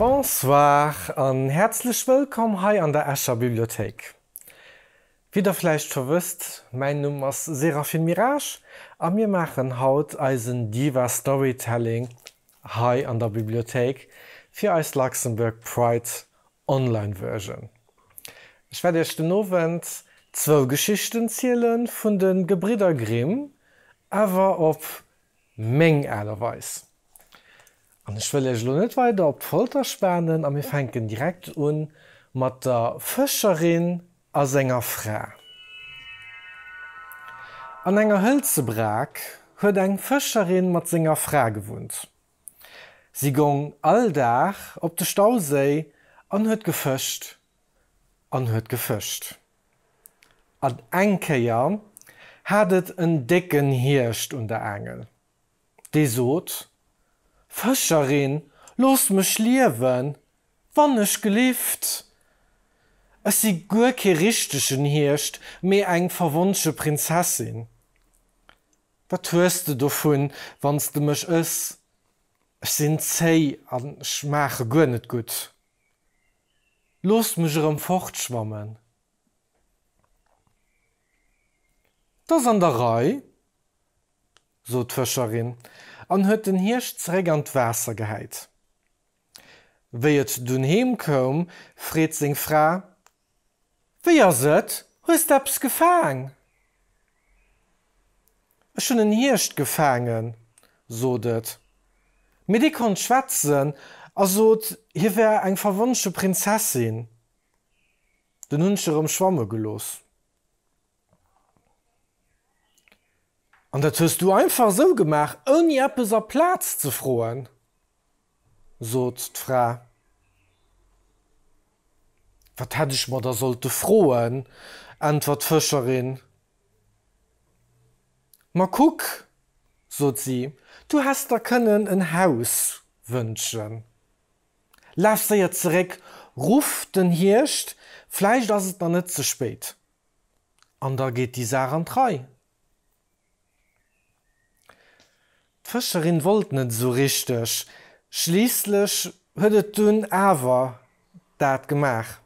Bonsoir an häerzlech wëllkomm hei an der Escher Bibliothéik. Wéi der vläicht scho wësst, mäin Numm ass Séraphine Mirage a mir maachen haut eisen Diva Storytelling hei an der Bibliothéik fir eis Luxembourg Pride Online Version. Ech wäert iech den Owend zwou Geschichten ziele vun de Gebridder Grimm, awer op meng Aart a Weis. An ech wëll iech elo net weider op d'Folter spanen a mir fänken direkt un mat der Fëscherin A senger Fra. An enger hëlze Brak huet eng Fëscherin mat senger Fra gewunnt. Si gong all Dag op de Stauséi an huet gefëscht an huet gefëscht. An eng Kéier hat et en décken Hierscht un der Aangel. dee sot, Fëscherin, looss mech liewen, wannechgelift! Ech si guer kee richtegen Hierscht, mee eng verwonsche Prinzessin. Wat hues de dovun, wann s de mech ëss? Ech sinn zéi an schmaache guer net gutt. Looss mech erëm fortschwammen. T'ass an der Rei. sot d'Fëscherin an huet den Hierscht zeréck an d'Waasser gehäit. Wéi et dunn heem koum, freet seng Fra, Wéi ass et, hues de eppes gefaang? Ech hunn en Hierscht gefaangen, sot et. Mee dee konnt schwätzen a sot, hie wär eng verwonsche Prinzessin. Dunn hunn ech e rëm schwamme gelooss. An dat hues du einfach esou gemaach, ouni eppes a Plaz ze froen? sot d'Fra. Wat hätt ech mer da sollte froen? äntwert d'Fëscherin. Ma kuck, sot si, du häss der kënnen en Haus wënschen. Laf séier zeréck, ruff den Hierscht, vläicht ass et da net ze spéit. An da geet déi Saach an d'Rei. D'Fëscherin wollt net esou richteg, schliisslech huet et dunn awer dat gemaach.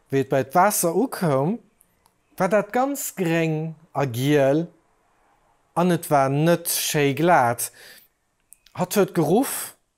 Wéi et bei d'Waasser ukoum, war dat ganz gréng a giel an et war net schéi glat. Hatt huet geruff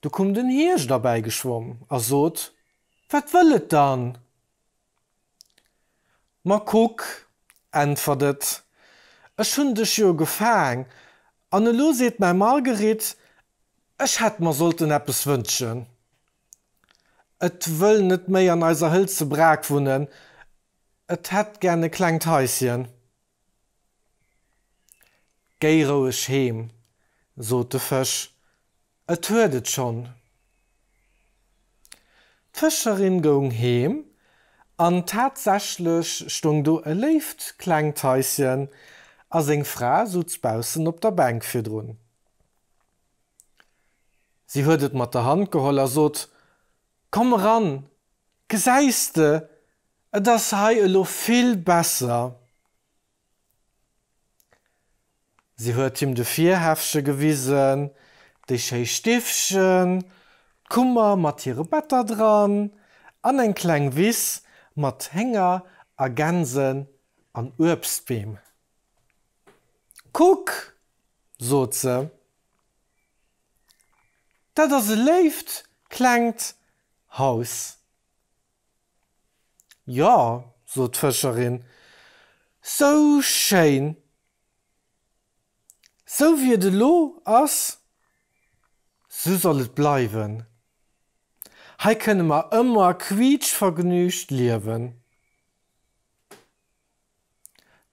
Du koum den Hierscht erbäi geschwomm a sot, Wat wëll et dann? Ma kuck, äntwert et, ech hunn dech jo gefaang, an elo seet mäi Marguerite, ech hätt mer sollten eppes wënschen. Et wëll net méi an eiser hëlze Brak wunnen, et hätt gär e klengt Haischen. Géi roueg heem, sot de Fësch, et huet et schonn. D'Fëscherin goung heem, an tatsächlech stoung do e léift klengt Haisschen, a seng Fra sutz baussen op der Bänk virdrun. Si huet et mat der Hand geholl a sot, Komm eran! Gesäis de, et ass hei elo vill besser. Si huet him de Virhäffche gewisen, déi schéi Stiffchen, d'Kummer mat hire Better dran an eng kleng Wiss mat Hénger a Gänsen an Uebstbeem. Kuck! sot se. Dat ass e léift klengt Haus. Jo, sot d'Fëscherin, sou schéin, sou wéi et elo ass, sou soll et bleiwen. Hei kënne mer ëmmer quiitschvergnügt liewen.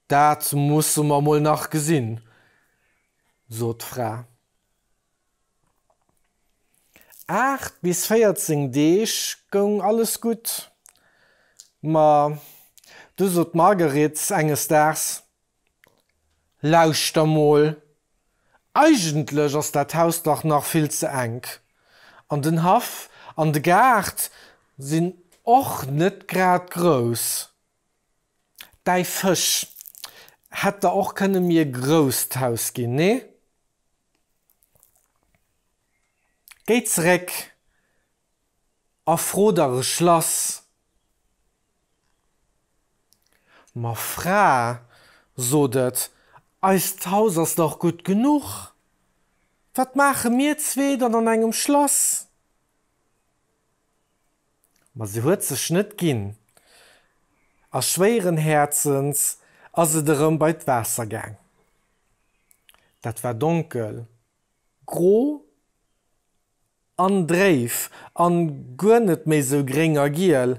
Dat musse mer mol nach gesinn, sot d'Fra. Aacht bis 14 Deeg goung alles gutt, ma du sot d'Marguerite enges Daags, Lauschter mol, eigentlech ass dat Haus dach nach vill ze enk, an den Haff an de Gaart sinn och net grad grouss. Däi Fësch hätt der och kënne mi e grousst Haus ginn, nee? Géi zeréck a fro der e Schlass. Ma Fra, sot et, eist Haus ass dach gutt genuch, wat maache mir zwee dann an engem Schlass? Ma se huet sech net ginn, a schwéieren Häerzens ass et erëm bei d'Waasser gaang. Dat war donkel, gro an dréif an guer net méi sou gréng a giel.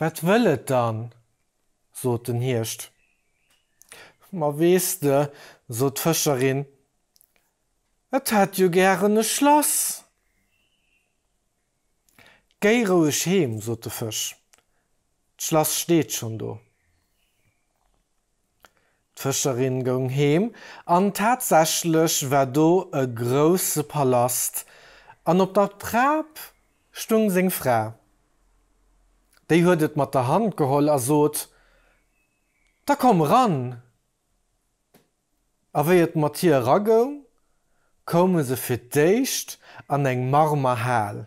Wat wëll et dann? sot den Hierscht. Ma weess de, sot d'Fëscherin, et hätt jo gären e Schlass. Géi roueg heem, sot de Fësch, d'Schlass steet schonn do. D'Fëscherin goung heem, an tatsächlech war do e grousse Palast, an op der Trap stung seng Fra. Déi huet et mat der Hand geholl a sot, Da komm eran! A wéi et mat hir eragoung, koume se fir d'éischt an eng Marmerhal.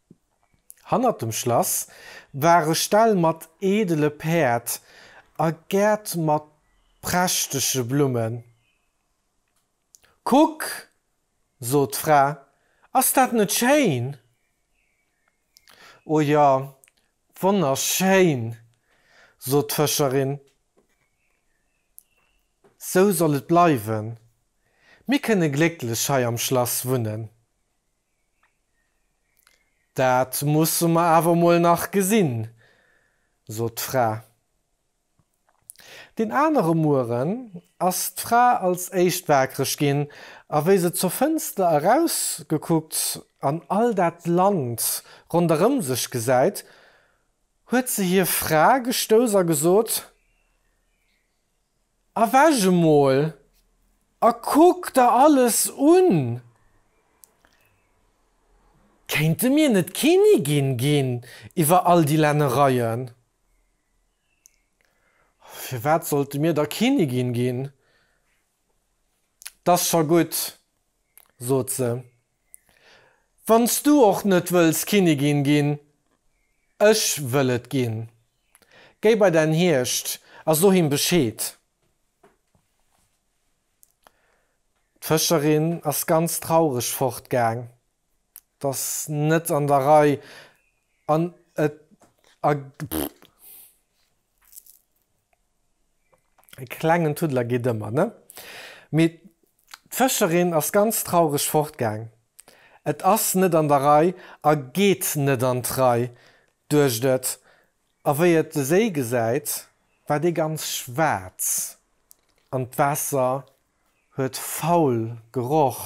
Hannert dem Schlass ware Ställ mat eedele Päerd a Gäert mat prächtege Blummen. Kuck, sot d'Fra, ass dat net schéin? O jo, wonnerschéin, sot d'Fëscherin. Sou soll et bleiwen, mir kënne glécklech hei am Schlass wunnen. Dat musse mer awer mol nach gesinn, sot d'Fra. Deen anere Mueren ass d'Fra als éischt waakreg ginn, a wéi se zur Fënster erausgekuckt an all dat Land ronderëm sech gesäit, huet se hir Fra gestouss a gesot, Erwäch emol a kuck der alles un! Kéinte mir net Kénigin ginn iwwer all déi Lännereien? Firwat sollte mir da Kénigin ginn? 't ass scho gutt, sot se. Wanns du och net wëlls Kinnigin ginn, ech wëll et ginn. Géi bei dän Hierscht a so him Bescheed. D'Fëscherin ass ganz traureg fortgaang. 't ass net an der Rei an et a pff. E klengen Tuddler geet ëmmer, ne? Mee D'Fëscherin ass ganz traureg fortgaang. Et ass net an der Rei a geet net an d'Rei, duecht et, a wéi et de Séi gesäit, war dee ganz schwaarz an d'Waasser huet faul geroch.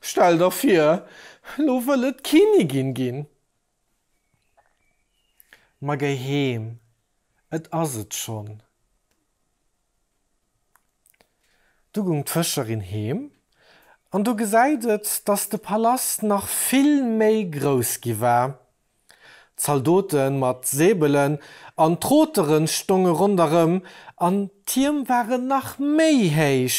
Stell der vir, lo wëll et d'Kinnigin ginn! Ma géi heem, et ass et schonn. Du gung d'Fëscherin heem an du gesäit et, dass de Palast nach vill méi grouss gi war. Zaldote mat Säbelen an Troteren stonge ronderëm an d'Tierm waren nach méi héich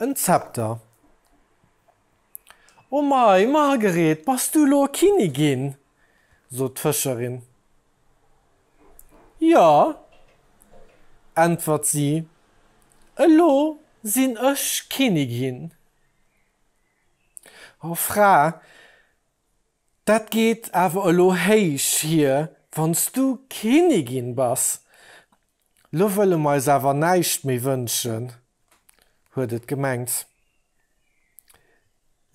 En Zepter. O mei, Margeret, bass du elo Kinnigin? sot d'Fëscherin. Jo, äntwert si, elo sinn ech Kinnigin. O Fra, dat geet awer elo héich hier, wann s du Kinnigin bass. Lo wëlle mer eis awer näischt méi wënschen, huet et gemengt.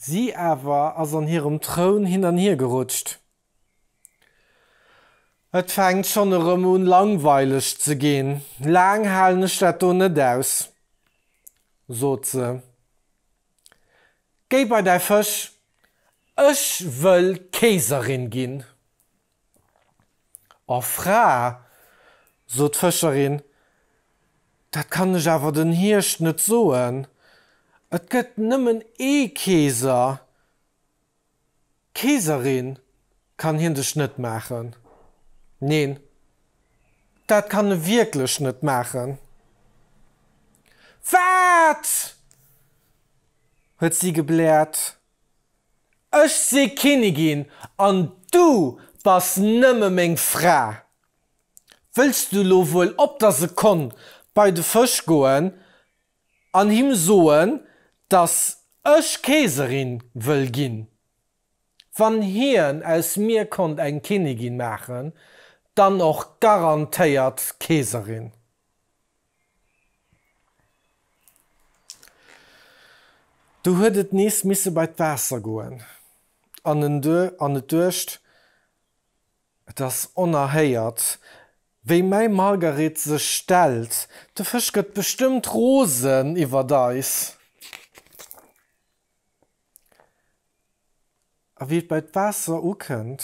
Si awer ass an hirem Troun hin an hier gerutscht. Et fänkt schonn erëm un langweileg ze ginn, laang halen ech dat do net aus, sot se. Géi bei däi Fësch, ech wëll Keeserin ginn. O Fra, sot d'Fëscherin, dat kann ech awer den Hierscht net soen, et gëtt nëmmen ee Keeser, Keeserin kann hien dech net maachen, neen, dat kann e wierklech net maachen. Wat! huet si gebläert. Ech si Kinnigin an du bass nëmme meng Fra. Wëlls du lo wuel op der Sekonn bei de Fësch goen an him soen, dass ech Keeserin wëll ginn? Wann hien aus mir konnt eng Kinnigin maachen, dann och garantéiert Keeserin. Du huet et nees misse bei d'Waasser goen an en an et duecht, Et ass onerhéiert, wéi mäi Margaret sech stellt. De Fësch gëtt bestëmmt rosen iwwert eis. A wéi et bei d'Waasser ukënnt.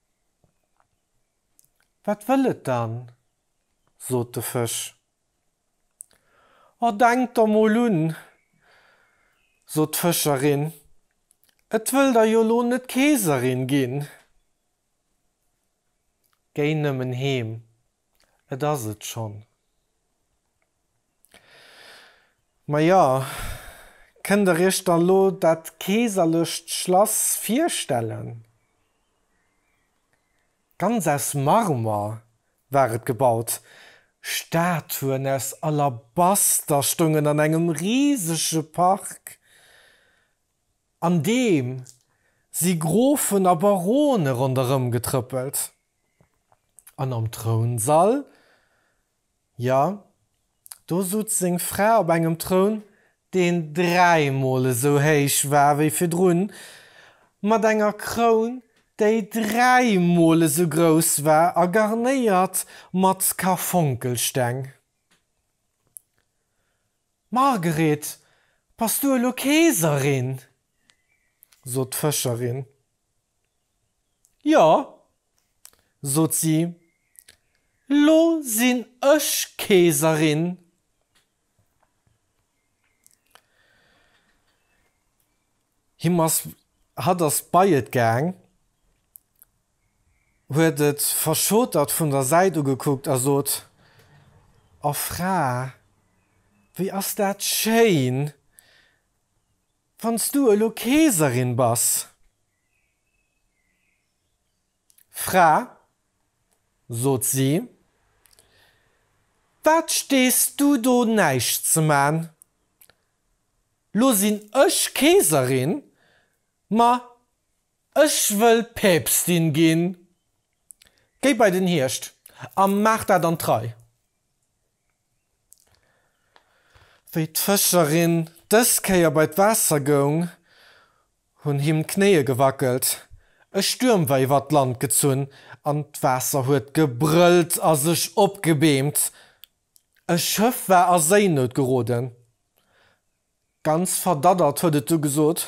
Wat wëll et dann? sot de Fësch. O denkt der mol un, sot d'Fëscherin, et wëll der jo lo net Keeserin ginn. Géi nëmmen heem, et ass et schonn. Maja, kënnt der iech dann lo dat keeserlecht Schlass virstellen? Ganz aus Marmer war et gebaut, Statuen aus Alabaster stoungen an engem risege Park, an deem si Grofen a Barone ronderëm getrëppelt. An am Trounsall Jo, do sutz seng Fra op engem Troun, deen dräimol esou héich war wéi virdrun, mat enger Kroun, déi dräimol esou grouss war a garnéiert mat Karfonkelsteng. Margret, bass du elo Keeserin? sot d'Fëscherin. Jo, sot si, lo sinn ech Keeserin. Him ass hatt ass bei et gaang, huet et verschotert vun der Säit ugekuckt a sot, O Fra, wéi ass dat schéin! Wann s du elo Keeserin bass, Fra, sot si, wat stees du do näischt ze man? Lo sinn ech Keeserin, ma ech wëll Päpstin ginn. Géi bei den Hierscht a maach dat an d'Rei. Wéi d'Fëscherin dës Kéier bei d'Waasser goung, hunn him d'Knéie gewackelt. E Stuerm war iwwer d'Land gezunn an d'Waasser huet gebrëllt a sech opgebeemt. E Schëff war a Séinout geroden. Ganz verdaddert huet et du gesot.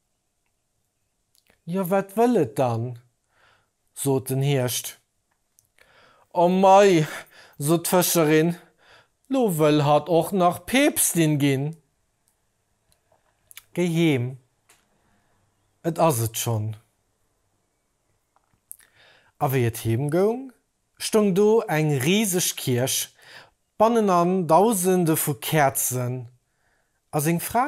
Jo, wat wëll et dann? sot den Hierscht. O mei, sot d'Fëscherin, lo wëll hatt och nach Päpstin ginn. Géi heem, et ass et schonn. A wéi et heem goung, stoung do eng riseg Kierch, bannenan Dausende vu Käerzen, a seng Fra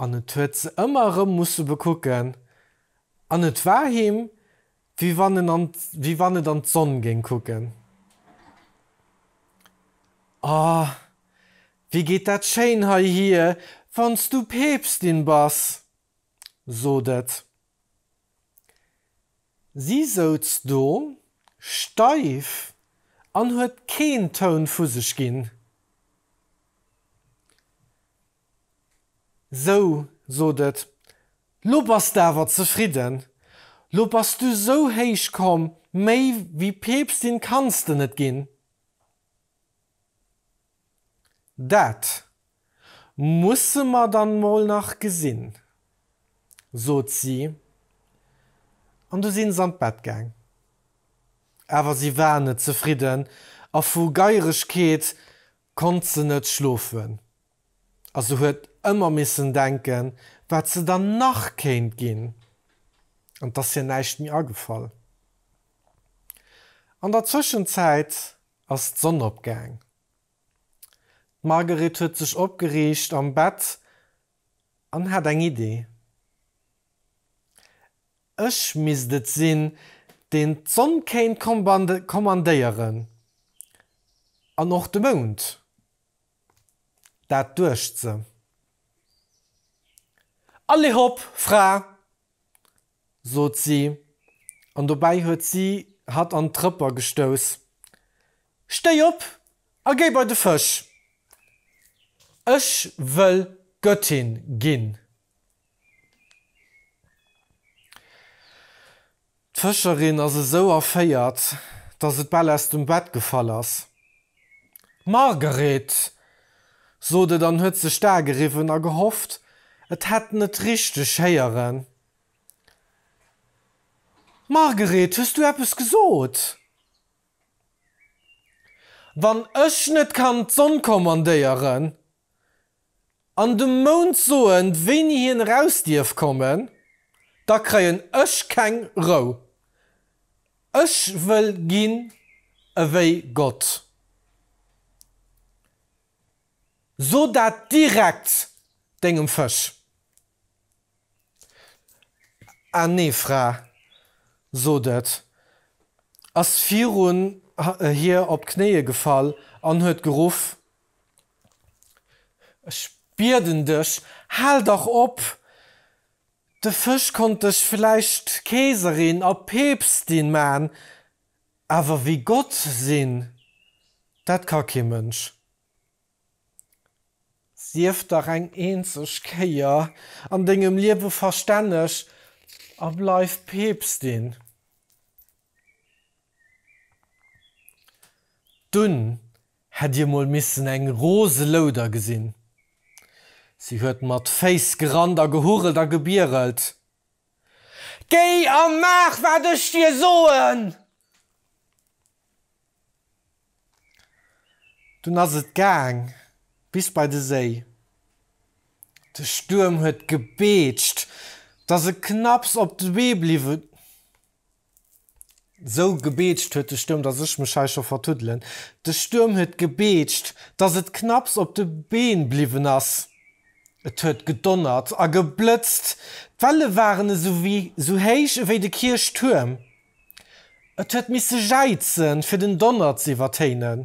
An et huet se ëmmer erëm musse bekucken, an et war him, wéi wann en an, wéi wann et an d'Sonn géing kucken. O, wéi geet dat schéin heihier, wann s du Päpstin bass! sot et. Si souz do, steif, an huet keen Toun vu sech ginn. Sou, sot et, lo bass de awer zefridden. Lo bass du sou héich komm, méi wéi Peepstin kanns de net ginn. Dat musse mer dann mol nach gesinn, sot si, an du sinn s'an d'Bett gaang. Awer si war net zefridden a vu Geieregkeet konnt se net schlofen a se huet ëmmer missen denken, wat se dann nach kéint ginn, an 't ass hir näischt méi agefall. An der Zwëschenzäit ass d'Sonn opgaang. D'Marguerite huet sech opgeriicht am Bett an hat eng Idee. Ech misst et sinn, deen d'Sonn kéint kommandéieren. An och de Mound. Dat duecht se. Allez hop, Fra! sot si, an dobäi huet si hatt an d'Rëpper gestouss. Stéi op a géi bei de Fësch! Ech wëll Göttin ginn! D'Fëscherin ass esou erféiert, datt et bal aus dem Bett gefall ass. D'Margeret sot et an huet sech d'Ae geriwwen a gehofft, et hätt en et richteg héieren. Margeret, hues du eppes gesot? Wann ech net kann d'Sonn kommandéieren, An dem Mount soen wéini hien eraus dierf kommen, da kreien ech keng Rou. Ech wëll ginn ewéi Gott. So dat direkt dengem Fësch. A nee Fra, sot et, ass virun hir op d'Knéie gefall an huet geruff, Ech bieden dech, hal dach op! De Fësch konnt dech vläicht Keeserin a Peepstin man, awer wéi Gott sinn, dat ka kee Mënsch. Sief dach eng eenzeg Kéier an dengem Liewe verstänneg a bleif Peepstin. Dunn Hätt dir mol missen eng rose Louder gesinn! Si huet mat Féiss gerannt a gehurelt a gebierelt. Géi a maach wat ech dir soen! Dunn ass et gaang bis bei de Séi. De Stuerm huet gebeetscht, dass e knapps op de Bee bliwwen. Sou gebeetscht huet de Stuerm, dass ech mech hei scho vertuddelen. De Stuerm huet gebeetscht, dass et knapps op de Been bliwwen ass. Et huet gedonnert a geblëtzt, d'Welle waren esou wéi sou héich ewéi de Kierchtuerm. Et huet misse jäizen, fir den Donner z'iwwertéinen.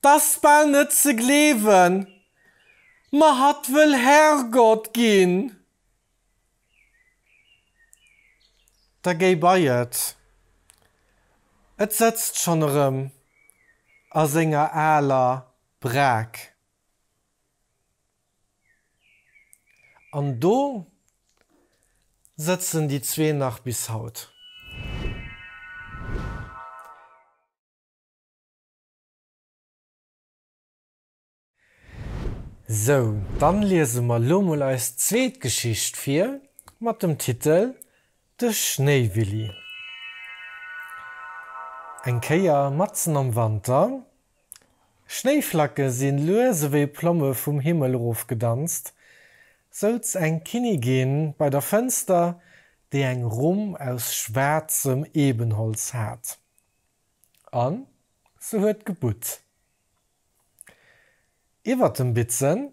T'ass bal net ze gleewen, ma hatt wëll Herrgott ginn. Da géi bei et, et sëtzt schonn erëm a senger aler Braak. An do sëtzen déi zwee nach bis haut. Sou, dann liese mer lo mol eis zweet Geschicht vir mat dem Titel De Schnéiwilli. Eng Kéier matzen am Wanter Schnéiflacke si lues ewéi Plomme vum Himmel erofgedanzt, souz eng Kinnigin bei der Fënster, déi eng Rumm aus schwaarzem Ebenholz hat, a se huet gebutt. Iwwer dem Bitzen,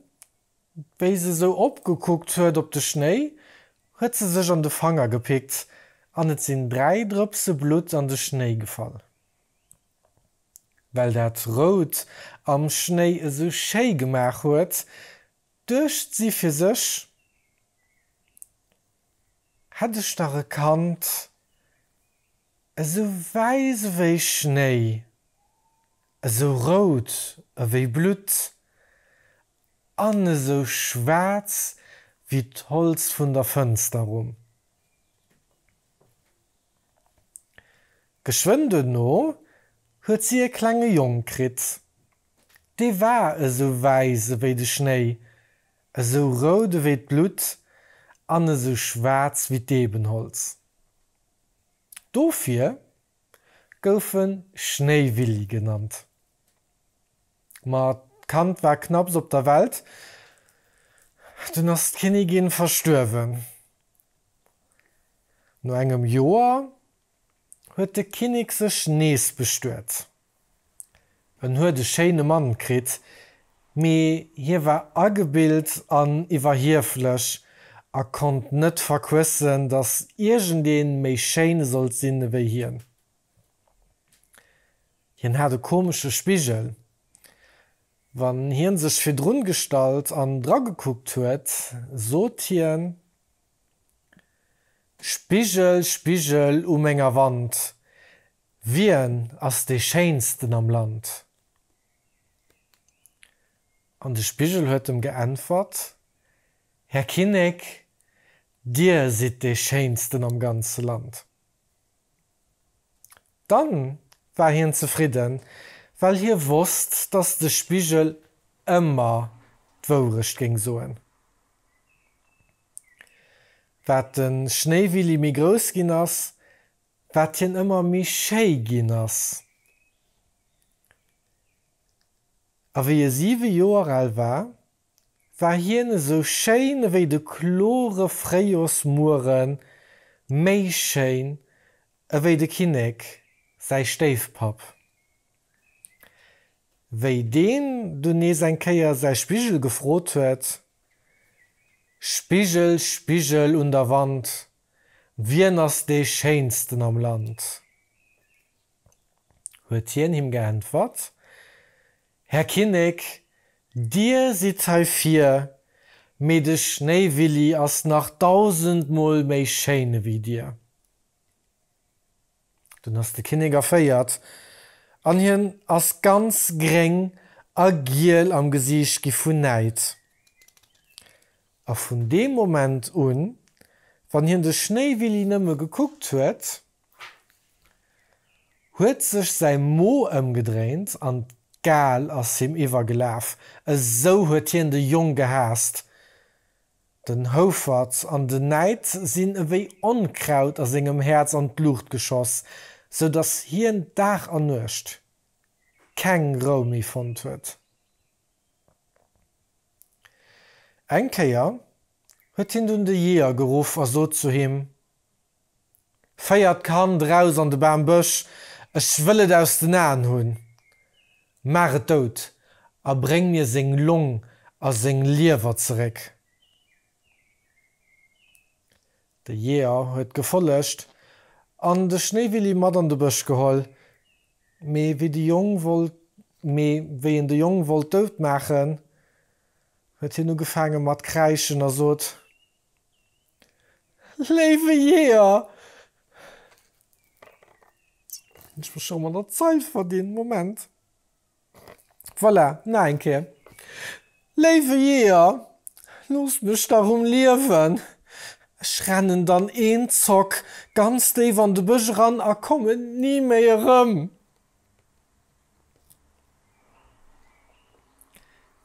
wéi se sou opgekuckt huet op de Schnéi, huet se sech an de Fanger gepickt an et sinn dräi Drëpse Blutt an de Schnéi gefall. well dat Rout am Schnéi esou schéi gemaach huet, duecht si fir sech, Hätt ech dach e Kand esou wäiss ewéi Schnéi, esou rout ewéi Blutt an esou schwaarz ewéi d'Holz vun der Fënster rum. Geschwënn duerno huet si e klenge Jong kritt. Dee war esou wäiss ewéi de Schnéi, esou rout ewéi d'Blutt an esou schwaarz ewéi d'Eebenholz. Dofir gouf e Schnéiwilli genannt. Ma d'Kand war knapps op der Welt, dunn ass d'Kinnigin verstuerwen. No engem Joer huet de Kinnek sech nees bestuet. En huet e schéine Mann kritt, mee hie war agebilt an iwwerhieflech a konnt net verquëssen, datt iergendee méi schéin sollt sinn ewéi hien. Hien hat e komesche Spigel. Wann hien sech virdrun gestallt an dra gekuckt huet, sot hien, Spigel, Spigel u menger Wand, wien ass dee Schéinsten am Land? An de Spigel huet em geäntwert, Här Kinnek, dir sidd dee Schéinsten am ganze Land. Dann war hien zefridden, well hie wosst, dass de Spigel ëmmer d'Wourecht géing soen. Wat de Schnéiwilli méi grouss ginn ass, wat hien ëmmer méi schéi ginn ass. A wéi e siwe Joer al war, War hien esou schéin ewéi de klore Fréijorsmueren, méi schéin ewéi de Kinnek, säi Stéifpapp. Wéi deen dunn nees eng Kéier säi Spigel gefrot huet, Spigel, Spigel un der Wand, wien ass dee Schéinsten am Land? huet hien him geäntwert, Här Kinnek, Dir sidd hei vir, mee de Schnéiwilli ass nach dausendmol méi schéin ewéi Dir. Dunn ass de Kinnek erféiert an hien ass ganz gréng a giel am Gesiicht gi vun Näid. A vun deem Moment un, wann hien de Schnéiwilli nëmme gekuckt huet, huet sech säi Mo ëmgedréint an d'Gal ass him iwwergelaf, esou huet hien de Jong gehaasst. Den Houfert an den Näid sinn ewéi Onkraut a sengem Häerz an d'Luucht geschoss, sou datt hien Dag an Nuecht keng Rou méi fonnt huet. Eng Kéier huet hien dunn de Jeeër geruff a sot zu him, Féiert d'Kand eraus an de Bam, Bësch, ech wëll et aus den Aen hunn. Maach et dout a bréng mir seng Long a seng Liewer zeréck. De Jeeër huet gefollegt an de Schnéiwilli mat an de Bësch geholl, mee wéi de Jong wollt mee wéi en de Jong wollt dout maachen, huet hien ugefaange mat kräischen a sot, Léiwe Jeeër! Hunn ech mech scho mat der Zeil verdinn? Moment. Voilà, nach eng Kéier. Léiwe Jeeër, looss mech dach um Liewen! Ech rennen dann een Zock ganz déif an de Bësch eran a kommen ni méi erëm.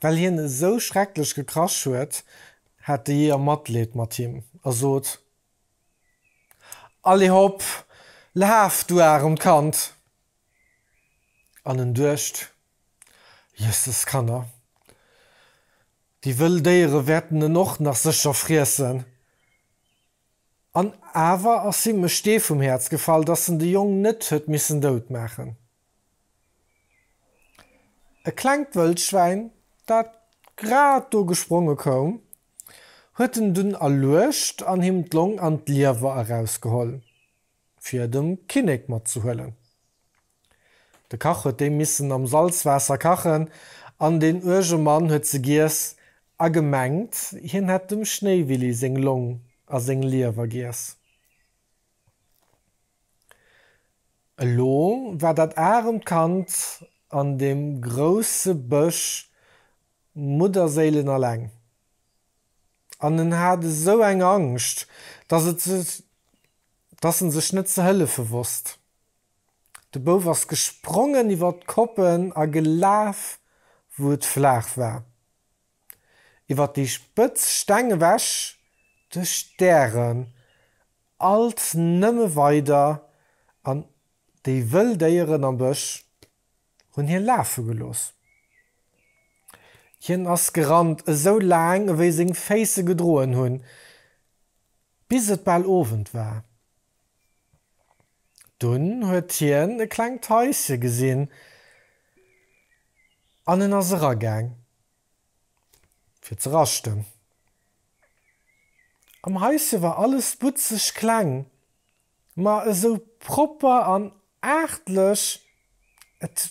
Well hien esou schrecklech gekrasch huet, hat de Jeeër Matleed mat him a sot, Allez hop, laf, du aremt Kand! An en duecht, Jösses Kanner, déi wëll Déiere wäerten en och nach sécher friessen! An awer ass him e Stee vum Häerz gefall, datt en de Jong net huet missen dout maachen. E klengt Wëldschwäin, dat grad do gespronge koum, huet en dunn erluecht an him d'Long an d'Liewer erausgeholl, fir et dem Kinnek matzehuelen. De Kach huet déi missen am Salzwaasser kachen an deen uerge Mann huet se giess a gemengt, hien hätt dem Schnéiwilli seng Long a seng Liewer giess. Elo war dat aremt Kand an deem grousse Bësch mudderséilenalleng an en hat esou eng Angscht, dass en sech net ze hëllefe wosst. De Bouf ass gesprongen iwwer d'Koppen a gelaf, wou et flaach war. iwwer déi spëtz Steng ewech, de Stären alt nëmme weider an déi wëll Déieren am Bësch hunn hie lafe gelooss. Hien ass gerannt, esou laang ewéi seng Féiss e gedroen hunn, bis et bal Owend war. Dunn huet hien e klengt Haische gesinn an en ass eragaang, fir ze raschten. Am Haische war alles butzeg kleng, ma esou propper an aartlech, et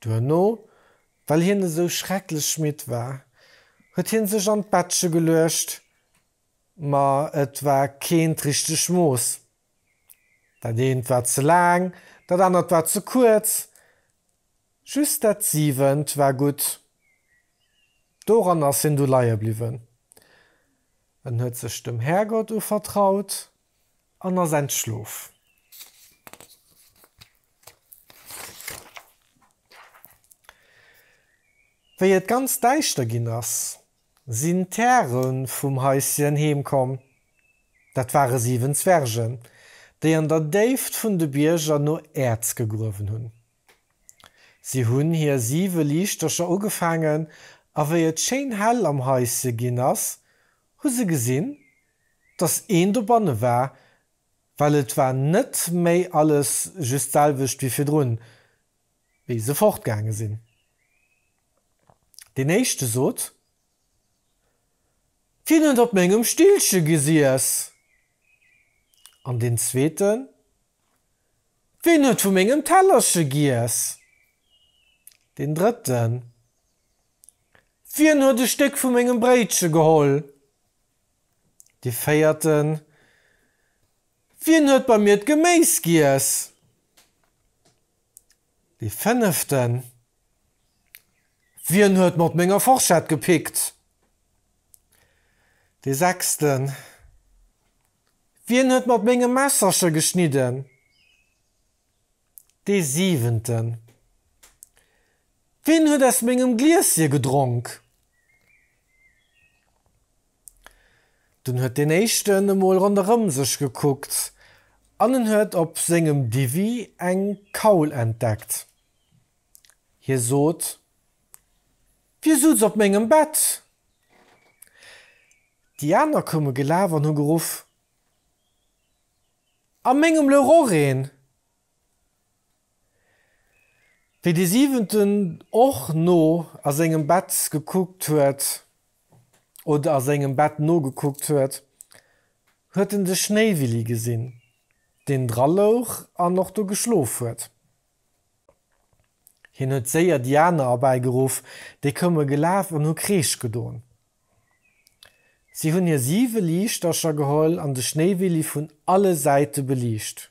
Duerno, well hien esou schrecklech midd war, huet hie sech an d'Bettche geluecht, ma et war keent richteg Mooss. Dat eent war ze laang, dat anert war ze kuerz, just dat siwent war gutt. Doran ass hien du leie bliwwen. En huet sech dem Härgott uvertraut. an ass entschlof. Wéi et ganz däischter ginn ass, sinn d'Häre vum Häischen heem komm. Dat ware siwen Zwergen, déi an der Déift vun de Bierger no Äerz gegruewen hunn. Si hunn hir siwe Liichtercher ugefaangen a wéi et schéin hell am Häischen ginn ass, hu se gesinn, dass een dobanne war, well et war net méi alles just d'selwecht wéi virdrun, wéi se fortgaange sinn. Deen éischte sot, Wien huet op mengem Stillche gesiess? An deen zweeten, Wien huet vu mengem Tellerche giess? Deen drëtten, Wien huet e Stéck vu mengem Bréitche geholl? Dee véierten, Wien huet bei mir d'Geméis giess? Dee fënneften, Wien huet mat menger Forschett gepickt? Dee sechsten, Wien huet mat mengem Messerche geschnidden? Dee siwenten, Ween huet aus mengem Glieschen gedronk? Dunn huet deen éischten emol ronderëm sech gekuckt an en huet op sengem Diwwi eng Kaul entdeckt. Hie sot, Wie sutz op mengem Bett? Déi aner koume gelaf an hu geruff, A mengem louch och een! Wéi dee Siwenten och no a sengem Bett gekuckt huet, oder a sengem Bett nogekuckt huet, huet en de Schnéiwilli gesinn, deen dra louch an och do geschlof huet. Hien huet séier déi aner erbäi geruff, déi koume gelaf an hu Kreesch gedon. Si hunn hir siwe Liichtercher geholl an de Schnéiwilli vun alle Säite beliicht.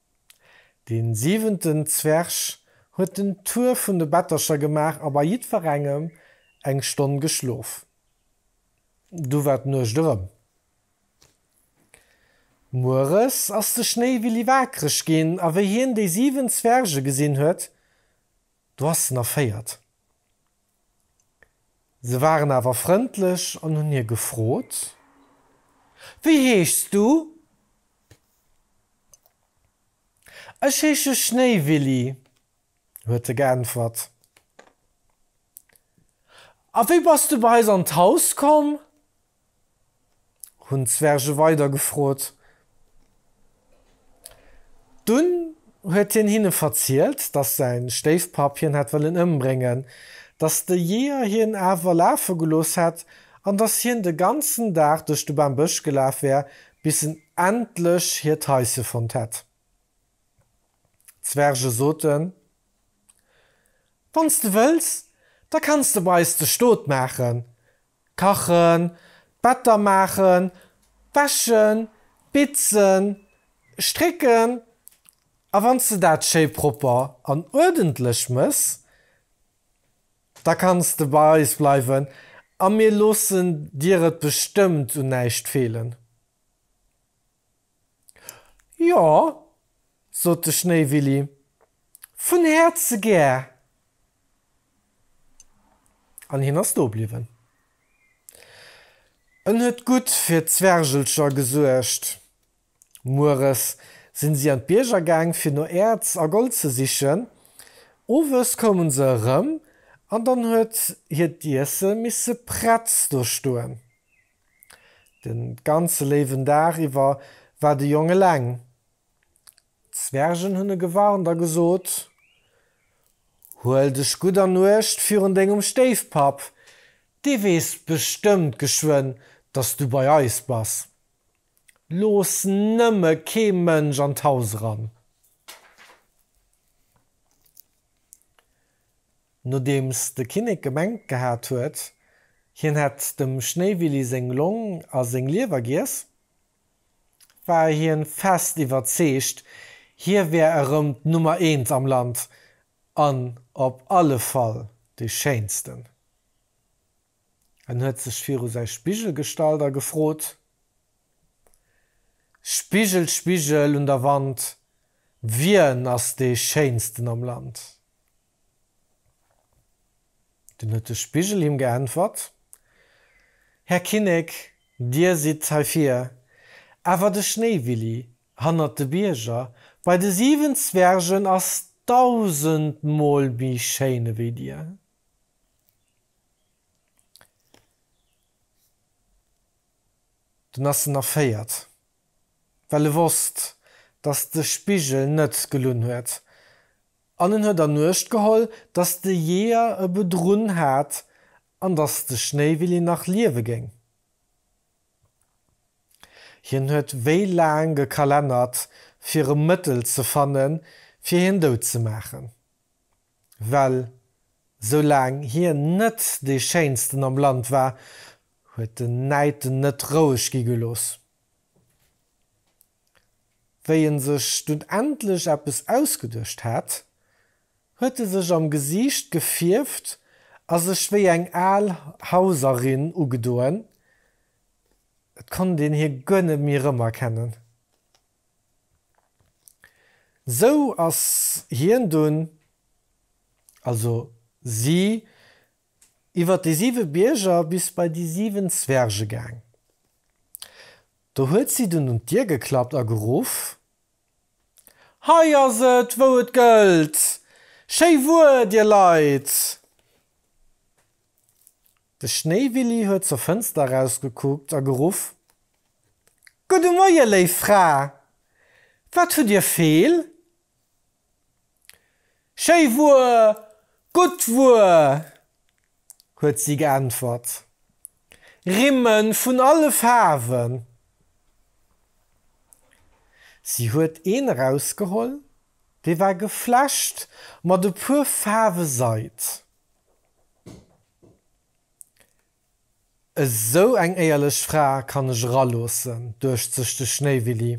Den siwenten Zwerg huet den Tour vun de Bettercher gemaach a bei jiddwerengem eng Stonn geschlof. Du war d'Nuecht erëm. Mueres ass de Schnéiwilli waakreg ginn a wéi hien déi siwen Zwerge gesinn huet, do ass en erféiert. Se waren awer frëndlech an hunn hie gefrot, Wéi heeschs du? Ech heesche Schnéiwilli, huet e geäntwert. A wéi bass du bei eis an d'Haus komm? hunn d'Zwerge weider gefrot. Dunn huet hien hinne verzielt, datt säi Stéifpapp hien hätt wëllen ëmbréngen, datt de Jeeër hien awer lafe gelooss hätt an datt hien de ganzen Dag duerch de Bam Bësch gelaf wär, bis en endlech hiert Haise fonnt hätt. D'Zwerge soten, Wann s de wëlls, da kanns de bei eis de Stot maachen. Kachen, d'Better maachen, wäschen, bitzen, strécken a wann s de dat schéi propper an uerdentlech mëss, da kanns de bei eis bleiwen a mir loossen dir et bestëmmt un näischt feelen. Jo, sot de Schnéiwilli, vun Häerze gär. An hien ass do bliwwen. En huet gutt fir d'Zwergelcher gesuergt. Mueres si si an d'Bierger gaang, fir no Äerz a Gold ze sichen. Owes koume se erëm an dann huet hiert Iesse misse prett do stoen. Den ganze léiwen Dag iwwer war de Jong eleng. D'Zwergen hunn e gewarnt a gesot, Huel dech gutt an Uecht virun dengem Stéifpapp, dee weess bestëmmt geschwënn, dass du bei eis bass. Looss nëmme kee Mënsch an d'Haus eran. Nodeems de Kinnek gemengt gehat huet, hien hätt dem Schnéiwilli seng Long a seng Liewer giess, war hien fest iwwerzeegt, hie wär erëm d'Nummer eent am Land an op alle Fall de Schéinsten. En huet sech viru säi Spigel gestallt a gefrot, Spigel, Spigel un der Wand, wien ass dee Schéinsten am Land? Dunn huet de Spigel him geäntwert, Här Kinnek, dir sidd hei vir, awer de Schnéiwilli hannert de Bierger bei de siwen Zwergen ass dausendmol méi schéin ewéi dir. Dunn ass en erféiert, well e wosst, datt de Spigel net gelunn huet, an en huet ernuecht geholl, datt de Jeeër e bedrunn hat an datt de Schnéiwilli nach liewe géing. Hien huet wéi laang gekalennert, fir e Mëttel ze fannen, fir hien dout ze maachen. well soulaang hien net dee Schéinsten am Land war, huet den Näid en net roueg gi gelooss. Wéi en sech dunn endlech eppes ausgeduecht hat, huet e sech am Gesiicht gefierft a sech wéi eng al Hauserin ugedoen, et konnt een hie guer net méi erëmerkennen. Sou ass hien dunn, also si, iwwer déi siwe Bierger bis bei déi siwen Zwerge gaang. Do huet si dunn un d'Dier geklappt a geruff, Hei ass et, wou et gëllt! Schéi Wuer, dir Leit! De Schnéiwilli huet zur Fënster erausgekuckt a geruff, Gudde Moie, léif Fra! Wat hutt Dir feel? Schéi Wuer, gutt Wuer! huet si geäntwert. Rimme vun alle Faarwen! Si huet een erausgeholl, dee war geflecht mat e puer Faarwe Seid. Esou eng éierlech Fra kann ech eraloossen, duecht sech de Schnéiwilli.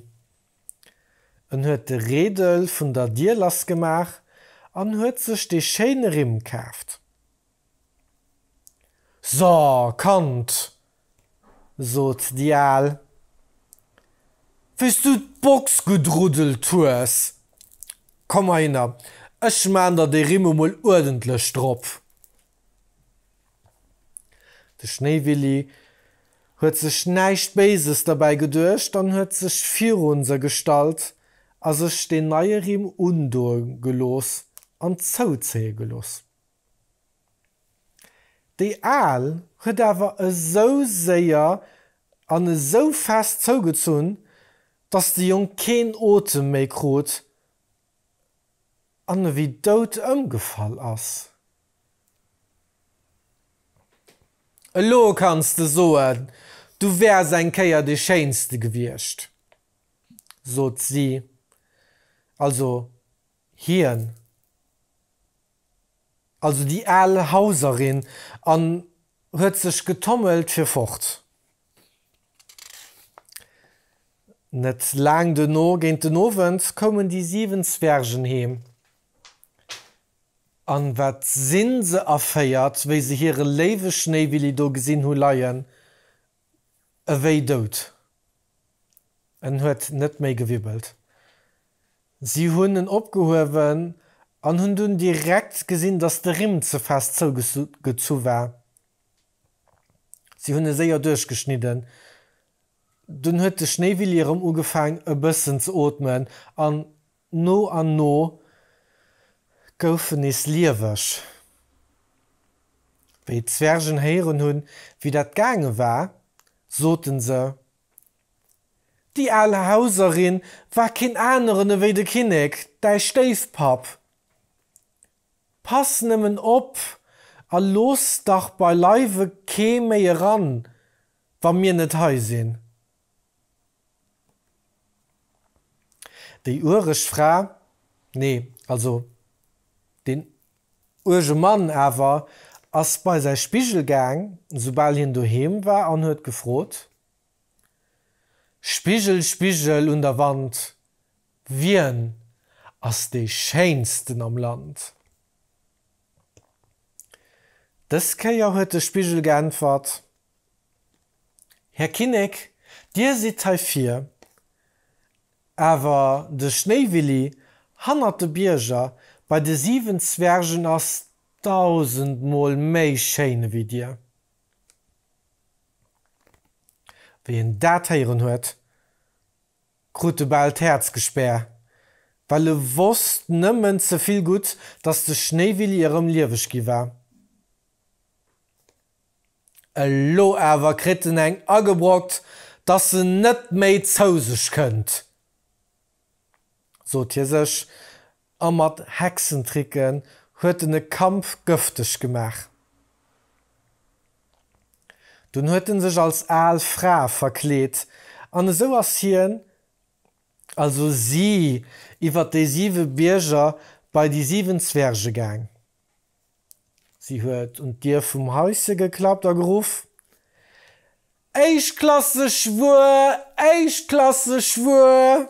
En huet de Reedel vun der Dier lassgemaach an huet sech dee schéine Rimm kaaft. So, Kand, sot déi Al, wéis du d'Box gutt ruddelt hues. Komm mar hinner, ech maan der dee Rimm emol uerdentlech drop. De Schnéiwilli huet sech näischt Béises derbäi geduecht an huet sech virun se gestallt a sech deen neie Rimm undoe gelooss an zouzéie gelooss. Déi Aal huet awer esou séier an esou fest zougezunn, datt de Jong keen Otem méi krut an e wéi dout ëmgefall ass. Elo kanns de soen, du wäers eng Kéier dee Schéinste gewiescht, sot si, also Hien, also déi al Hauserin, an huet sech getommelt fir fort. Net laang duerno, géint den Owend, koumen déi siwen Zwergen heem. An wat sinn se erféiert, wéi se hire léiwe Schnéiwilli do gesinn hu leien, e wéi dout. En huet net méi gewibbelt. Si hunn en opgehuewen an hunn dunn direkt gesinn, datt de Rimm ze fest zougezu war. Si hunn e séier duerchgeschnidden. Dunn huet de Schnéiwilli erëm ugefaang e bëssen ze ootmen an No an no goufen nees lieweg. Wéi d'Zwergen héieren hunn, wéi dat gaange war, soten se, Déi al Hauserin war keen aneren ewéi de Kinnek, däi Stéifpapp. Pass nëmmen op a looss dach beileiwe kee méi eran, wa mir net hei sinn. Déi uereg Fra, nee, also deen uerge Mann awer, ass bei säi Spigel gaang, soubal hien doheem war, an huet gefrot, Spigel, Spigel un der Wand, wien ass dee Schéinsten am Land? Dës Kéier huet de Spigel geäntwert, Här Kinnek, Dir sidd hei vir, awer de Schnéiwilli hannert de Bierger bei de siwen Zwergen ass dausendmol méi schéin ewéi Dir. Wéi en dat héieren huet, krut e bal d'Häerz gespär, well e wosst nëmmen ze vill gutt, dass de Schnéiwilli erëm lieweg gi war. Elo awer kritt en eng agebrockt, dass se net méi zou sech kënnt, sot hie sech, a mat Hexentricken huet en e Kamp gëfteg gemaach. Dunn huet en sech als al Fra verkleet, an esou ass hien, also si, iwwer déi siwe Bierger bei déi siwen Zwerge gaang. Si huet un d'Dier vum Häuschen geklappt a geruff, Éischtklasseg Wuer, éischtklasseg Wuer!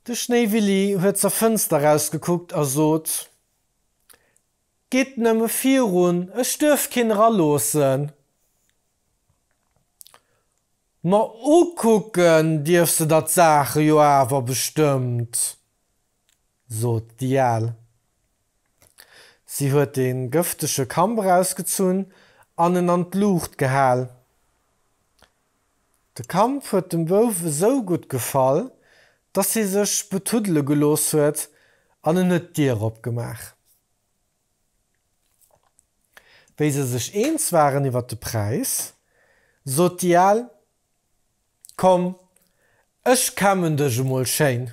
De Schnéiwilli huet zur Fënster erausgekuckt a sot, Gitt nëmme virun, ech duerf keen eraloossen. Ma ukucken dierf se der d'Saache jo awer bestëmmt! sot déi Al. Si huet de gëftege Kamp erausgezunn an en an d'Luucht gehal. De Kamp huet dem Bouf esou gutt gefall, dass hie sech betuddele gelooss huet an en huet d'Dier opgemaach. Wéi se sech eens waren iwwer de Präis, sot déi Al, Komm, ech kämmen dech emol schéin.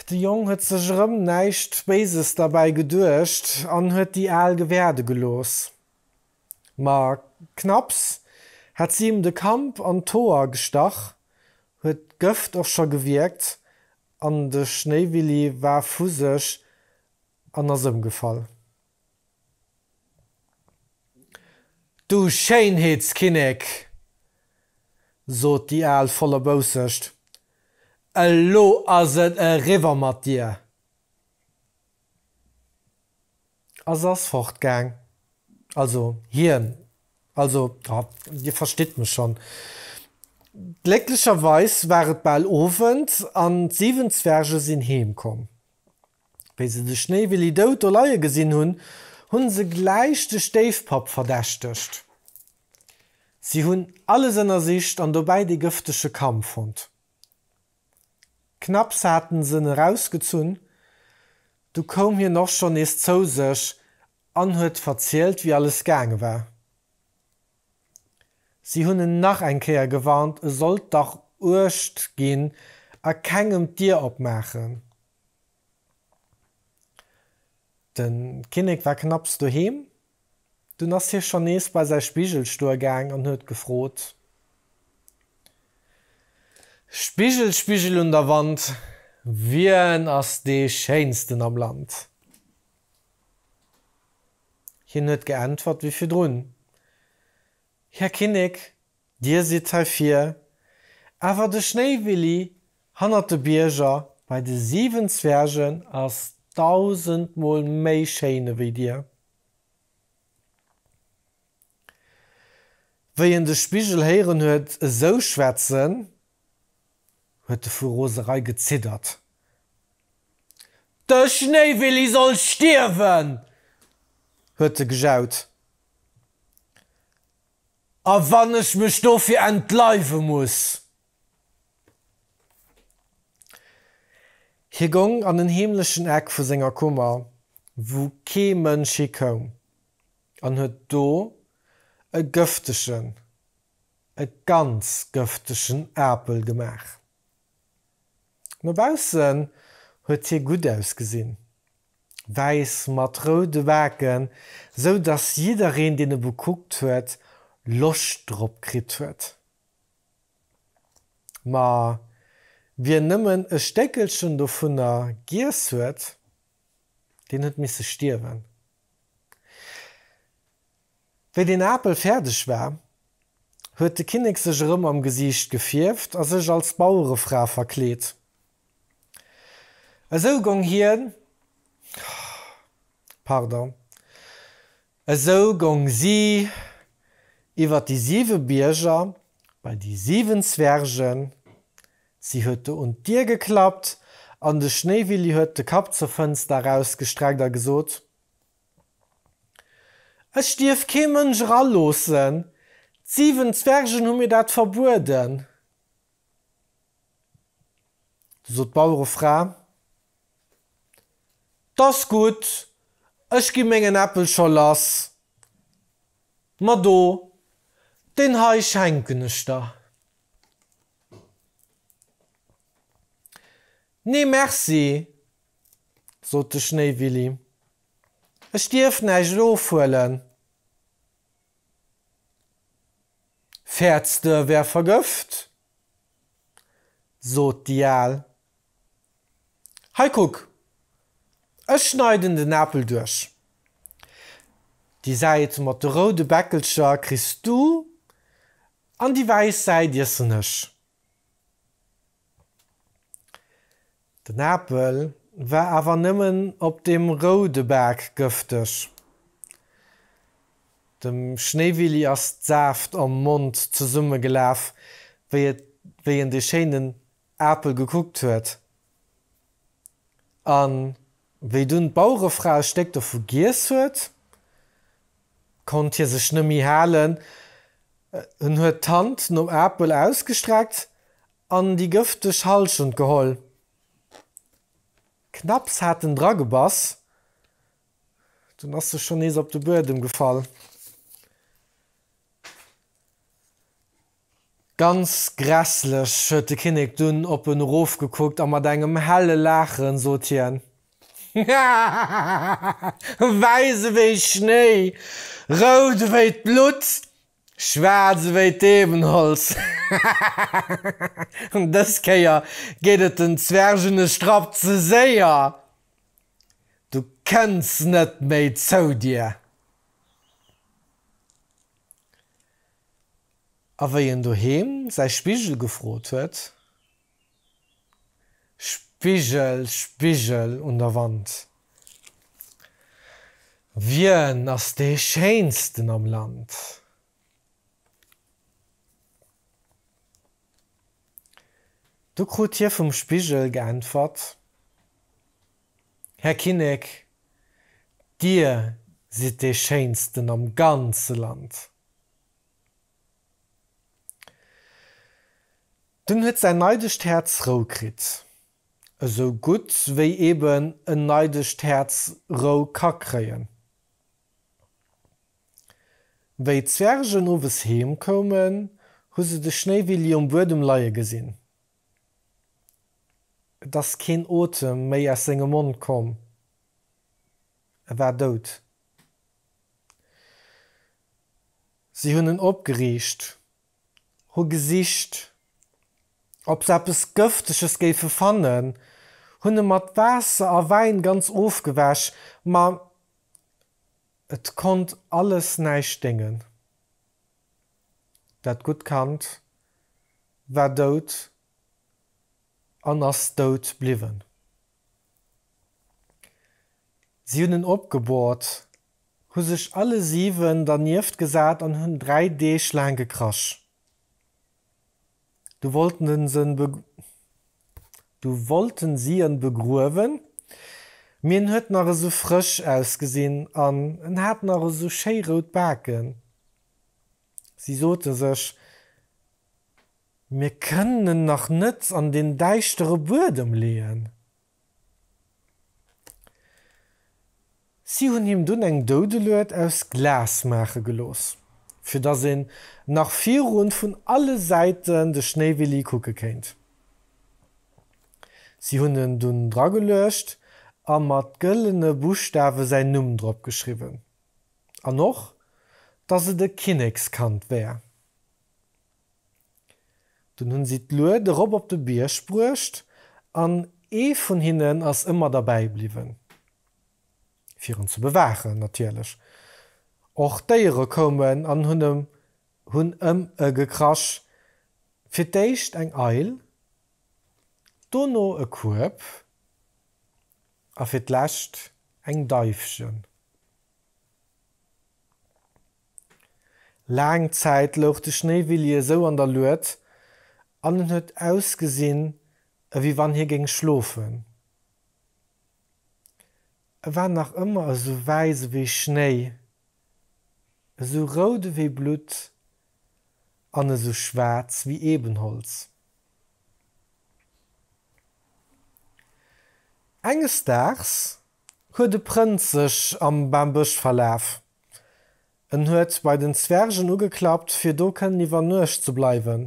De Jong huet sech erëm näischt Béises derbäi geduecht an huet déi Al gewäerde gelooss. Ma knapps hat si him de Kamp an d'Hoer gestach, huet d'Gëft och scho gewierkt an de Schnéiwilli war vu sech an ass ëmgefall. Du Schéinheetskinnek, sot déi Al voller Boussecht, elo ass et eriwwer mat dir! A se ass fortgaang. Also hien, also, ha, dir verstitt mech schonn. Glécklecherweis war et bal Owend an d'siwen Zwerge sinn heemkomm. Wéi se de Schnéiwilli dout do leie gesinn hunn, hunn se gläich de Stéifpapp verdächtegt. Si hunn alles ënnersicht an dobäi dee gëftege Kamm fonnt. Knapps haten s'en erausgezunn, du koum hien och schonn nees zou sech an huet verzielt, wéi alles gaange war. Si hunn en nach eng Kéier gewarnt, e sollt dach uecht ginn a kengem d'Dier opmaachen. Den Kinnek war knapps doheem, dunn ass hie schonn nees bei säi Spigelstuer gaang an huet gefrot, Spigel, Spigel un der Wand, wien ass dee Schéinsten am Land? Hien huet geäntwert wéi virdrun, Här Kinnek! Dir sidd hei vir. Awer de Schnéiwilli hannert de Bierger bei de 7 Zwergen ass dausendmol méi schéin ewéi Dir. Wéi en de Spigel héieren huet esou schwätzen, huet e vu Roserei geziddert. De Schnéiwilli soll stierwen! huet e gejaut. A wann ech mech dofir entleiwe muss! Hie gong an en heemlechen Eck vu senger Kummer, wou kee Mënsch hi koum, an huet do e gëftegen, e ganz gëftegen Apel gemaach. No baussen huet hie gutt ausgesinn. wäiss mat roude Baken, sou dass jiddereen deen e bekuckt huet Loscht drop kritt huet. Ma wien nëmmen e Stéckelchen dovunner giess huet, deen huet misse stierwen. Wéi den Apel fäerdeg war, huet de Kinnek sech erëm am Gesiicht gefierft a sech als Bauerefra verkleet. Esou gong hien, pardon, esou gong si iwwer déi siwe Bierger bei déi siwen Zwergen. Si huet do un d'Dier geklappt an de Schnéiwilli huet de Kapp zur Fënster erausgestreckt a gesot, Ech dierf kee Mënsch eraloossen. D'siwen Zwergen hu mir dat verbueden. Du sot d'Bauerefra, T ass gutt, ech gi mengen Äppel scho lass. Ma do, deen hei schenken ech der. Nee, merci, sot de Schnéiwilli. Ech dierf näischt ofhuelen. Fäerts de, e wär vergëft? sot déi Al. Hei kuck, ech schneiden den Apel duerch. Déi Säit mat de roude Bäckelcher kriss du an déi wäiss Säit iessen ech. Den Apel war awer nëmmen op dem roude Bak gëfteg. Dem Schnéiwilli ass d'Saaft am Mond zesummegelaf, wéi en dee schéinen Apel gekuckt huet. An wéi dunn d'Bauerefra e Stéck dovu giess huet, konnt hie sech nëmmi halen en huet d'Hand nom Apel ausgestreckt an déi gëfteg Halschent geholl. Knapps hat en dra gebass, dunn ass e schonn nees op de Buedem gefall. Ganz grässlech, huet de Kinnek dunn op en erofgekuckt a mat engem helle Laachen sot hien, Hahahaha! Wäiss ewéi Schnéi, rout ewéi d'Blutt, schwaarz ewéi d'Ebenholz, hahahaha! Dës Kéier geet et den Zwergen e Strapp ze séier, du kënns net méi zou dir! A wéi en doheem säi Spigel gefrot huet, Spigel, Spigel un der Wand, wien ass dee Schéinsten am Land? du krut hie vum Spigel geäntwert, Här Kinnek, Dir sidd dee Schéinsten am ganze Land! Dunn huet säin neidegt Häerz Rou kritt. Esou gutt, wéi eben en neidegt Häerz Rou ka kréien. Wéi d'Zwergen owes heem koumen, hu se de Schnéiwilli um Buedem leie gesinn. Et ass keen Otem méi aus sengem Mond komm. E war dout. Si hunn en opgeriicht, hu gesicht, ob se eppes Gëfteges géife fannen, hunn e mat Waasser a Wäin ganz ofgewäsch, ma et konnt alles näischt déngen. Dat gutt Kand war dout an ass dout bliwwen. Si hunn en opgebohrt, hu sech alle siwen dernieft gesat an hunn dräi Deeg laang gekrasch. Du wollten si en begruewen, mee en huet nach esou frësch ausgesinn an en hat nach esou schéi rout Baken. Si sote sech, Mir kënnen en nach net an deen däischtere Buedem leeën. Si hunn him dunn eng Doudelued aus Glas maache gelooss, fir datt een nach virun vun alle Säiten de Schnéiwilli kucke kéint. Si hunn en dunn drageluecht a mat gëllene Buschtawe säin Numm drop geschriwwen an och, datt et e Kinnekskand wär. Dunn hunn si d'Lued erop op de Bierg bruecht an ee vun hinnen ass ëmmer derbäi bliwwen. Fir en ze bewaachen natierlech. Och d'Déiere koumen an hunn em hunn ëm e gekrasch, fir d'éischt eng Eil, dono e Kueb a fir d'lescht eng Deifchen. Laang Zäit louch de Schnéiwilli esou an der Lued an en huet ausgesinn, ewéi wann hie géing schlofen. E war nach ëmmer esou wäiss ewéi Schnéi, esou rout ewéi Blutt an esou schwaarz ewéi Ebenholz. Enges Daags huet e Prënz sech am Bambësch verlaf En huet bei den Zwergen ugeklappt, fir do kënnen iwwer Nuecht ze bleiwen.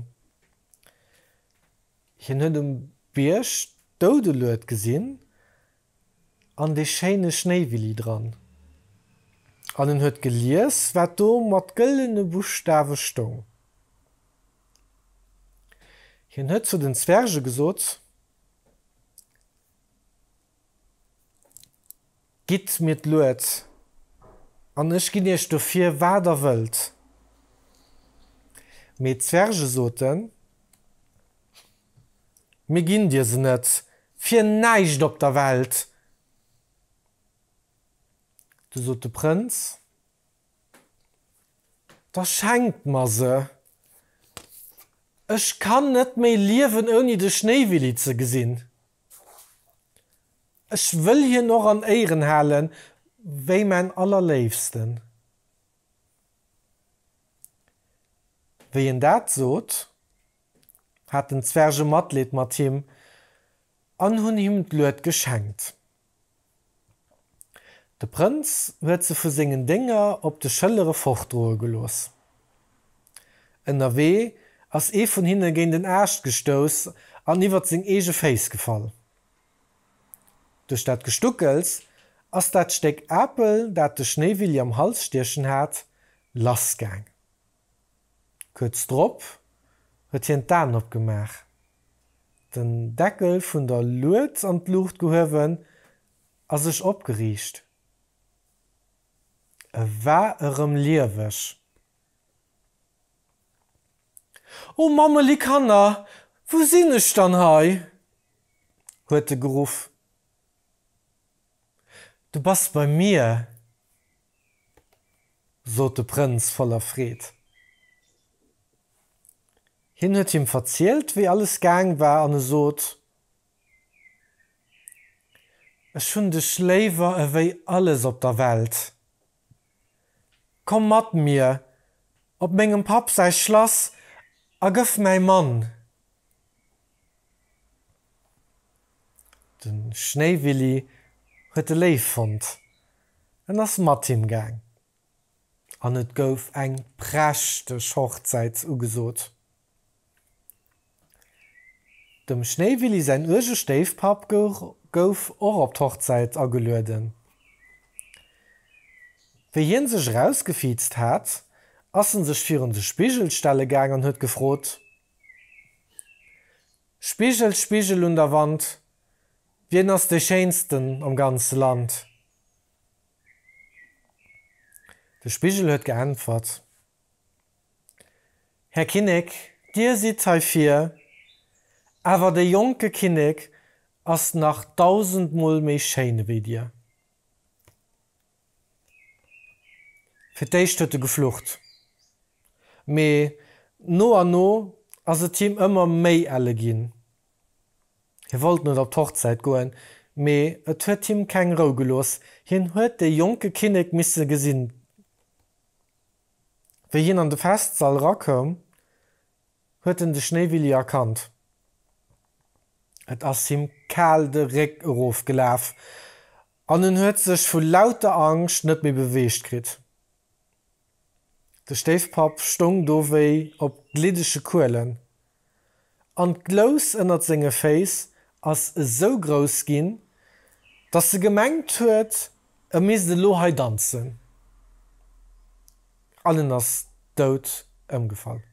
Hien huet um Bierg d'Doudelued gesinn an dee schéine Schnéiwilli dran. An en huet gelies, wat do mat gëllene Buschtawe stoung. Hien huet zu den Zwerge gesot. Gitt mir d'Lued, an ech ginn iech dofir, wat der wëllt. Mee d'Zwerge soten, Mir ginn dir se net, fir näischt op der Welt! Du sot de Prënz, Da schenkt mer se, ech kann net méi liewen, ouni de Schnéiwilli ze gesinn! Ech wëll hien och an Éiren halen wéi mäin Allerléifsten. Wéi en dat sot, haten d'Zwerge Matleed mat him an hunn him d'Lued geschenkt. De Prënz huet se vu sengen Dénger op de Schëllere fortdroe gelooss. Ënnerwee ass ee vun hinne géint en Aascht gestouss an iwwert seng eege Féiss gefall. Duerch dat Gestuckels ass dat Stéck Apel, dat de Schnéiwilli am Hals stiechen hat, lassgaang. Kuerz drop huet hien d'Aen opgemaach, den Deckel vun der Lued an d'Luucht gehuewen a sech opgeriicht. E war erëm lieweg. O Mammeli Kanner, wou sinn ech dann hei? huet e geruff. Du bass bei mir, sot de Prënz voller Freed. Hien huet him verzielt, wéi alles gaang war, an e sot, Ech hunn dech léiwer ewéi alles op der Welt. Komm mat mir op mengem Papp säi Schlass a gëff mäi Mann. Den Schnéiwilli huet e Léif fonnt. En ass mat him gaang an et gouf eng prächteg Hochzäit ugesot. Dem Schnéiwilli säin uerge Stéifpapp gouf och op d'Hochzäit agelueden. Wéi hien sech erausgefiizt hat, ass en sech virun de Spigel stelle gaang an huet gefrot. Spigel, Spigel un der Wand, wien ass de schéinsten am ganze Land? De Spigel huet geäntwert, Här Kinnek, dir sidd hei vir, awer de jonke Kinnek ass nach dausendmol méi schéin ewéi dir. Fir d'éischt huet e geflucht, mee no an no ass et him ëmmer méi elle ginn. Hie wollt net op d'Hochzäit goen, mee et huet him keng Rou gelooss, hien huet de jonke Kinnek misse gesinn. Wéi hien an de Festsall erakoum, huet en de Schnéiwilli erkannt. Et ass him kal de Réck erofgelaf, An en huet sech vu lauter Angscht net méi beweegt kritt. De Stéifpapp stoung do wéi op gliddege Kuelen, an d'Glous ënnert senge Féiss ass esou grouss ginn, datt e gemengt huet, e misst elo hei danzen, an en ass dout ëmgefall.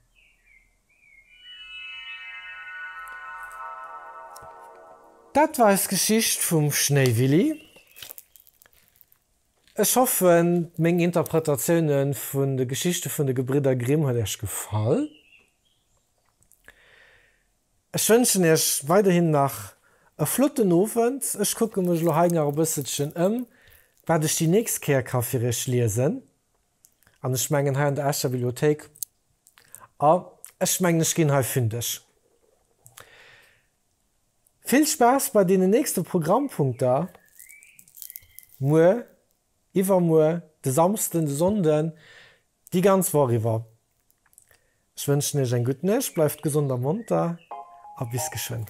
Dat war eis Geschicht vum Schnéiwilli. Ech hoffen, meng Interpretatioune vun de Geschichte vun de Gebridder Grimm huet Iech gefall. Ech wënschen Iech weiderhin nach e flotten Owend. Ech kucke mech elo hei nach e bësselchen ëm, wat ech déi nächst Kéier ka fir Iech liesen. An ech mengen, hei an der Escher Bibliothéik A ech mengen ech ginn hei fündeg. Vill Spaass bei deenen nächste Programmpunkter muer, iwwermuer, de Samsden, de Sonnden, déi ganz Woch iwwer. Ech wënschen iech eng gutt Nuecht, bleift gesond a monter a bis geschwënn.